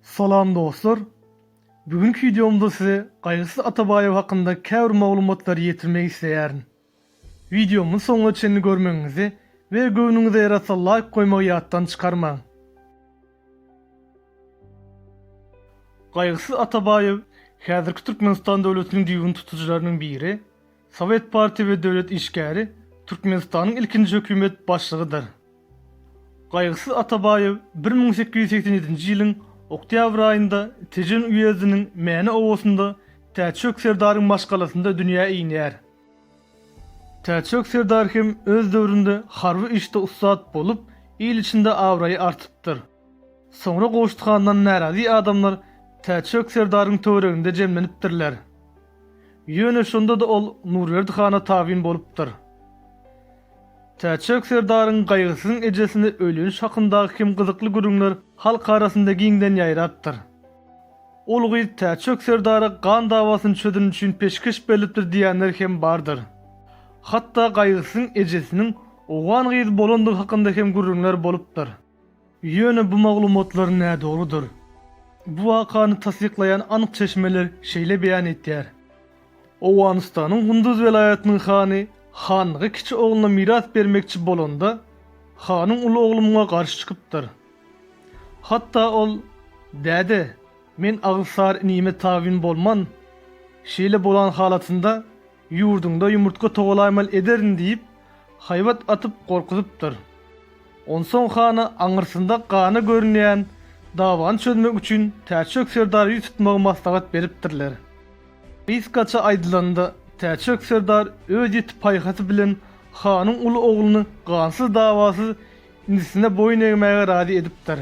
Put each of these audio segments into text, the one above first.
Salam dostlar! Bu günki wideomda size Gaýgysyz Atabaýew hakynda käbir maglumatlary ýetirmek isleýärin. Wideomy soňuna çenli görmegiňizi we göwnüňize ýarasa laýk goýmagy ýatdan çykarmaň. Gaýgysyz Atabaýew häzirki Türkmenistan döwletiniň düýbüni tutujylarynyň biri, sowet partiýa we döwlet işgäri, Türkmenistanyň ilkinji hökümet başlygydyr. Gaýgysyz Atabaýew bir müň sekiz ýüz segsen ýedinji ýylyň oktýabr aýynda Tejen uýezdiniň Mäne obasynda Täçjök serdaryň maşgalasynda dünýä inýär. Täçjok serdar hem öz döwründe harby işde ussat bolup, il içinde abraýy artypdyr. Soňra Goşt handan närazy adamlar Täçjok serdaryň töwereginde jemlenipdirler. Ýöne şonda-da ol Nurberdi hana tabyn bolupdyr. Täçjok serdaryň Gaýgysyzyň ejesine öýleniş hakyndaky hem gyzykly gürrüňler halk arasynda giňden ýaýrapdyr. Ol gyz Täçjok serdara gan dawasyny çözeniň üçin peşgeş berlipdir diýýänler hem bardyr. Hatda Gaýgysyň ejesiniň owgan gyzy bolandygy hakynda hem gürrüňler bolupdyr. Ýöne bu maglumatlar nädogrudyr. Bu wakany tassyklaýan anyk çeşmeler şeýle beýan etýär. Owganystanyň Gunduz welaýatynyň hany hanlygy kiçi ogluna miras bermekçi bolanda, hanyň uly oglumga garşy çykypdyr. Hatda ol, Däde, men Agysar inime tabyn bolman, şeýle bolan halatynda ýurduňda ýumurtga togalaýmaly ederin diýip, haýbat atyp gorkuzypdyr. Onsoň hana aňyrsynda gana görünýän dawany çözmek üçin Täçjök serdara ýüz tutmagy maslahat beripdirler. Gysgaça aýdylanda, Täçjök serdar öz ýiti paýhasy bilen hanyň uly ogluny gansyz-dawasyz Indisine boýun egmäge razy edipdir.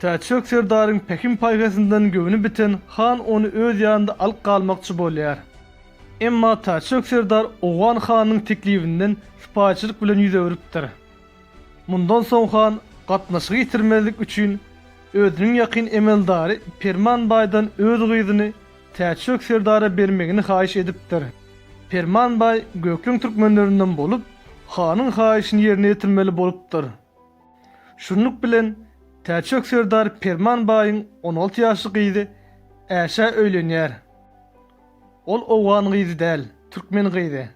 Täçjek serdaryň pähim-paýhasyndan göwni biten han ony öz ýanynda alyp galmakçy bolýar. Emma Täçjek serdar owgan hanynyň teklibinden sypaýyçylyk bilen ýüz öwrüpdir. Mundan soň han gatnaşygy ýitirmezlik üçin özüniň ýakyn emeldary Perman baýdan öz gyzyny Täçjok serdara bermegini haýyş edipdir. Perman baý gökleň türkmenlerinden bolup, hanyň haýyşyny ýerine ýetirmeli bolupdyr. Şunluk bilen, Täçjok serdar Perman baýyň on alty ýaşly gyzy Äşä öýlenýär. Ol owgan gyzy däl, türkmen gyzy.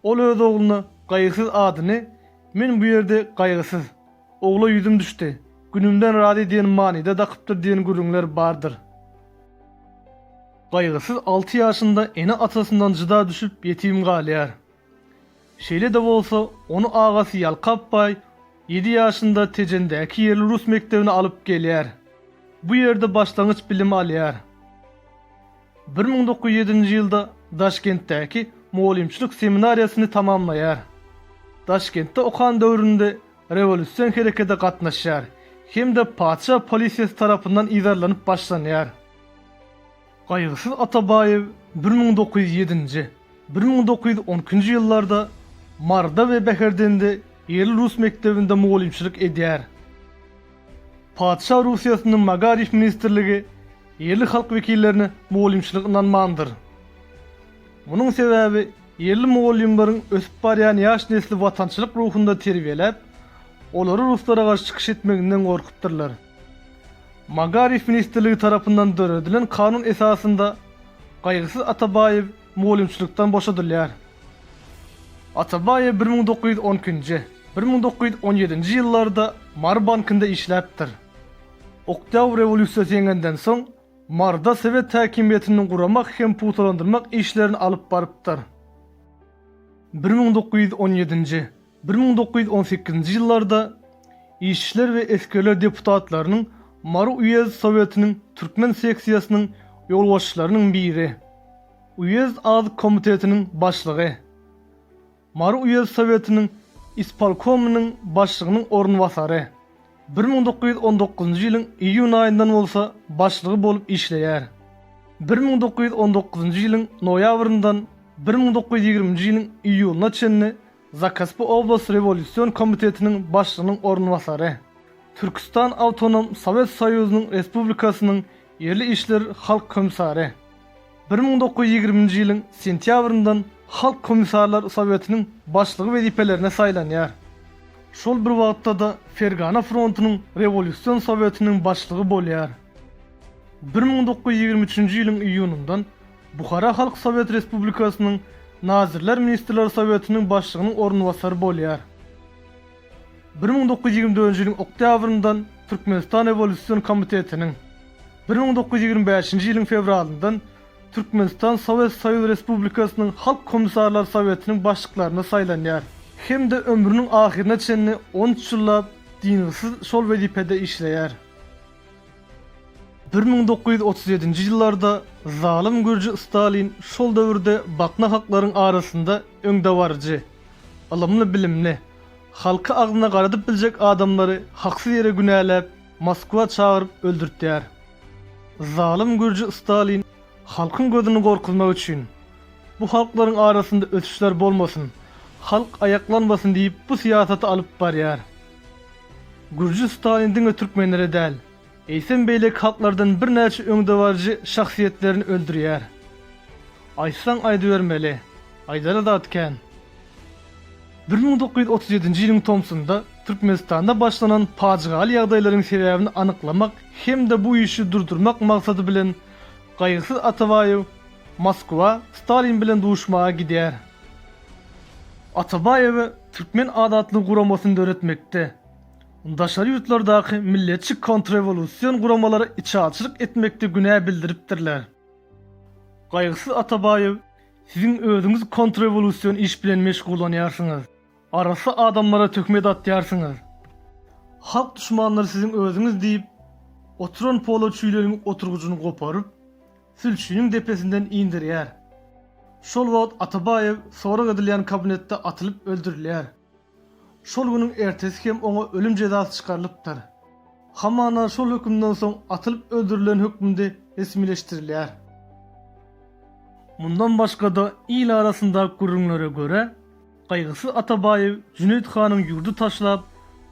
Ol öz ogluna Gaýgysyz adyny Men bu ýerde gaýgysyz. Ogla ýüzüm düşdi. Günümden razy diýen manyda dakypdyr diýen gürrüňler bardyr. Gaýgysyz alty ýaşynda ene-atasyndan jyda düşüp ýetim galýar. Şeýle-de bolsa, ony agasy Ýalkap baý ýedi ýaşynda Tejendäki ýerli rus mekdebine alyp gelýär. Bu ýerde başlangyç bilim alýar. Bir müň dokuz ýüz ýedinji ýylda Daşkentdäki mugallymçylyk seminariýasyny tamamlaýar. Daşkentde okan döwründe rewolýusion herekede gatnaşýar hem-de patyşa polisiýasy tarapyndan yzarlanyp başlanýar. Gaýgysyz Atabaýew bir müň dokuz ýüz ýedinji, bir müň dokuz ýüz on ikinji ýyllarda Maryda we Bäherdende ýerli rus mekdebinde mugallymçylyk edýär. Patyşa Russiýasynyň Magariýf ministrligi ýerli halk wekillerine mugallymçylyk ynanmandyr. Munuň sebäbi ýerli mugallymlaryň ösüp barýan ýaş nesli watançylyk ruhunda terbiýeläp, olary ruslara garşy çykyş etmeginden gorkupdyrlar. Magariýf ministrligi tarapyndan döredilen kanun esasynda Gaýgysyz Atabaýew mugallymçylykdan boşadylýar. Atabaýew bir müň dokuz ýüz on ikinji, bir müň dokuz ýüz on ýedinji ýyllarda Mary bankynda işläpdir. Oktýabr rewolýusiýasy ýeňenden soň, Maryda sowet häkimiýetini guramak hem pugtalandyrmak işlerini alyp barypdyr. Bir müň dokuz ýüz on ýedinji, Bir müň dokuz ýüz on sekizinji ýyllarda Işçiler we esgerler deputatlarynyň Mary uýezd Sowetiniň türkmen seksiýasynyň ýolbaşçylarynyň biri, uýezd azyk komitetiniň başlygy, Mary uýezd Sowetiniň ispolkomynyň başlygynyň orunbasary, bir müň dokuz ýüz on dokuzynjy ýylyň iýun aýyndan bolsa başlygy bolup işleýär. Bir müň dokuz ýüz on dokuzynjy ýylyň noýabryndan bir müň dokuz ýüz ýigriminji ýylyň iýulyna çenli Zakaspy oblast rewolýusion komitetiniň başlygynyň orunbasary, Türküstan awtonom Sowet Soýuzynyň Respublikasynyň ýerli işler halk komissary, bir müň dokuz ýüz ýigriminji ýylyň sentýabryndan Halk komissarlar sowetiniň başlygy wezipelerine saýlanýar. Şol bir wagtda-da Fergana frontunyň rewolýusion sowetiniň başlygy bolýar. Bir müň dokuz ýüz ýigrimi üçünji ýylyň iýunyndan Buhara Halk Sowet Respublikasynyň Nazirler Ministrler Sowetiniň Başlygynyň orunbasary bolýar. Bir müň dokuz ýüz ýigrimi dördünji ýylyň oktýabryndan Türkmenistan Rewolýusion Komitetiniň, bir müň dokuz ýüz ýigrimi bäşinji ýylyň fewralyndan Türkmenistan Sowet Soýuz Respublikasynyň Halk Komissarlar Sowetiniň başlyklaryna saýlanýar hem-de ömrüniň ahyryna çenli on üç ýyllap dyngysyz şol wezipede işleýär. Bir müň dokuz ýüz otuz ýedinji ýyllarda zalym gürji Stalin şol döwürde baknahaklaryň arasynda öňdebaryjy, ylymly-bilimli, halky agzyna garadyp biljek adamlary haksyz ýere günäläp, Moskwa çagyryp öldürtýär. Zalym gürji Stalin halkyň gözüni gorkuzmak üçin, bu halklaryň arasynda ösüşler bolmasyn, halk aýaklanmasyn diýip bu syýasaty alyp barýar. Gürji Stalin diňe türkmenleri däl, eýsem beýleki halklardan birnäçe öňdebaryjy şahsyýetlerini öldürýär. Aýtsaň aýdybermeli, aýdara zat kän. Bir müň dokuz ýüz otuz ýedinji ýylyň tomsunda Türkmenistanda başlanan pajygaly ýagdaýlaryň sebäbini anyklamak hem-de bu işi durdurmak maksady bilen Gaýgysyz Atabaýew Moskwa Stalin bilen duşmaga gidýär. Atabaýewe türkmen azatlyk guramasyny döretmekde, daşary ýurtlardaky milletçi kontrrewolýusion guramalara içaçylyk etmekde günä bildiripdirler. Gaýgysyz Atabaýew, siziň özüňiz kontrrewolýusion iş bilen meşgullanýarsyňyz, arassa adamlara töhmet atýarsyňyz. Halk duşmanlary siziň özüňiz diýip, oturan polo çüýleniň oturgyjyny goparyp, sülçiniň depesinden inderýär. Şol wagt Atabaýew sorag edilýän kabinetde atylyp öldürilýär. Şol günüň ertesi hem oňa ölüm jezasy çykarylypdyr. Hamana şol hökümden soň atylyp öldürilen hökmünde resmileşdirilýär. Mundan başga-da il arasynda gürrüňlere görä, Gaýgysyz Atabaýew Jüneýit hanyň ýurdy taşlap,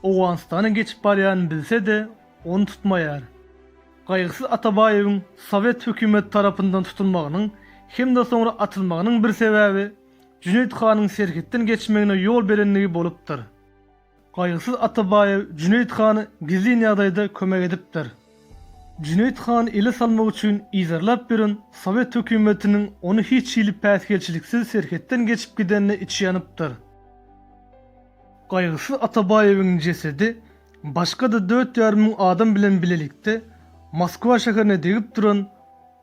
Owganystana geçip barýanyny bilse-de, ony tutmaýar. Gaýgysyz Atabaýewiň sowet hökümeti tarapyndan tutulmagynyň hem-de soňra atylmagynyň bir sebäbi Jüneýit hanyň serhetden geçmegine ýol berendigi bolupdyr. Gaýgysyz Atabaýew Jüneýit hana gizlin ýagdaýda kömek edipdir. Jüneýit hany ele salmak üçin yzarlap ýören sowet hökümetiniň ony hiç hili päsgelçiliksiz serhetden geçip gidenine içi ýanypdyr. Gaýgysyz Atabaýewiň jesedi başga-da dört ýarym müň adam bilen bilelikde Moskwa şäherine degip duran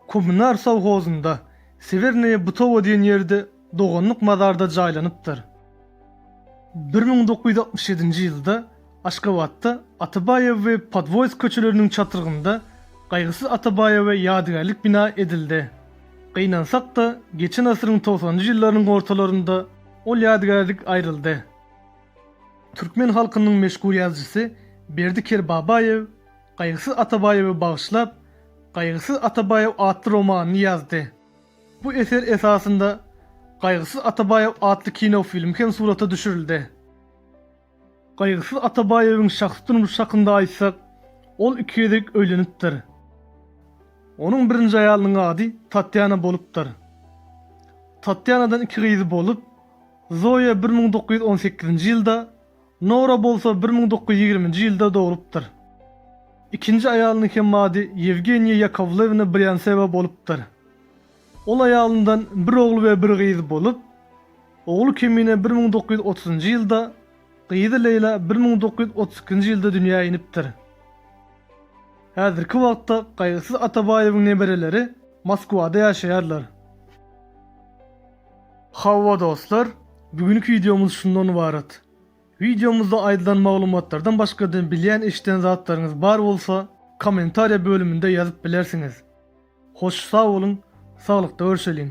Kommunar sowhozynda, Sewernaýe Butowo diýen ýerde doganlyk mazarda jaýlanypdyr. Bir müň dokuz ýüz altmyş ýedinji ýylda Aşgabatda Atabaýew we Podwoýsk köçeleriniň çatrygynda Gaýgysyz Atabaýewe ýadygärlik bina edildi. Gynansak-da, geçen asyryň togsanynjy ýyllarynyň ortalarynda ol ýadygärlik aýryldy. Türkmen halkynyň meşhur ýazyjysy Berdi Kerbabaýew Gaýgysyz Atabaýewe bagyşlap Gaýgysyz Atabaýew atly romanyny ýazdy. Bu eser esasynda Gaýgysyz Atabaýew atly kinofilm hem surata düşürildi. Gaýgysyz Atabaýewiň şahsy durmuşy hakynda aýtsak, ol iki gezek öýlenipdir. Onuň birinji aýalynyň ady Tatýana bolupdyr. Tatýanadan iki gyzy bolup, Zoýa bir müň dokuz ýüz on sekizinji ýylda, Nora bolsa bir müň dokuz ýüz ýigriminji ýylda dogulupdyr. Ikinji aýalynyň hem ady Ýewgeniýa Ýakowlewna Brýantsewa bolupdyr. Ol aýalyndan bir ogul we bir gyz bolup, ogly Kemine bir müň dokuz ýüz otuzynjy ýylda, gyzy Leýla bir müň dokuz ýüz otuz ikinji ýylda dünýä inipdir. Häzirki wagtda Gaýgysyz Atabaýewiň nebereleri Moskwada ýaşaýarlar. Hawa dostlar, bu günki wideomyz şundan ybarat. Wideomyzda aýdylan maglumatlardan başgada bilýän eşiden zatlaryňyz bar bolsa kommentariýa bölüminde ýazyp bilersiňiz. Hoş sag boluň, saglykda görşeliň.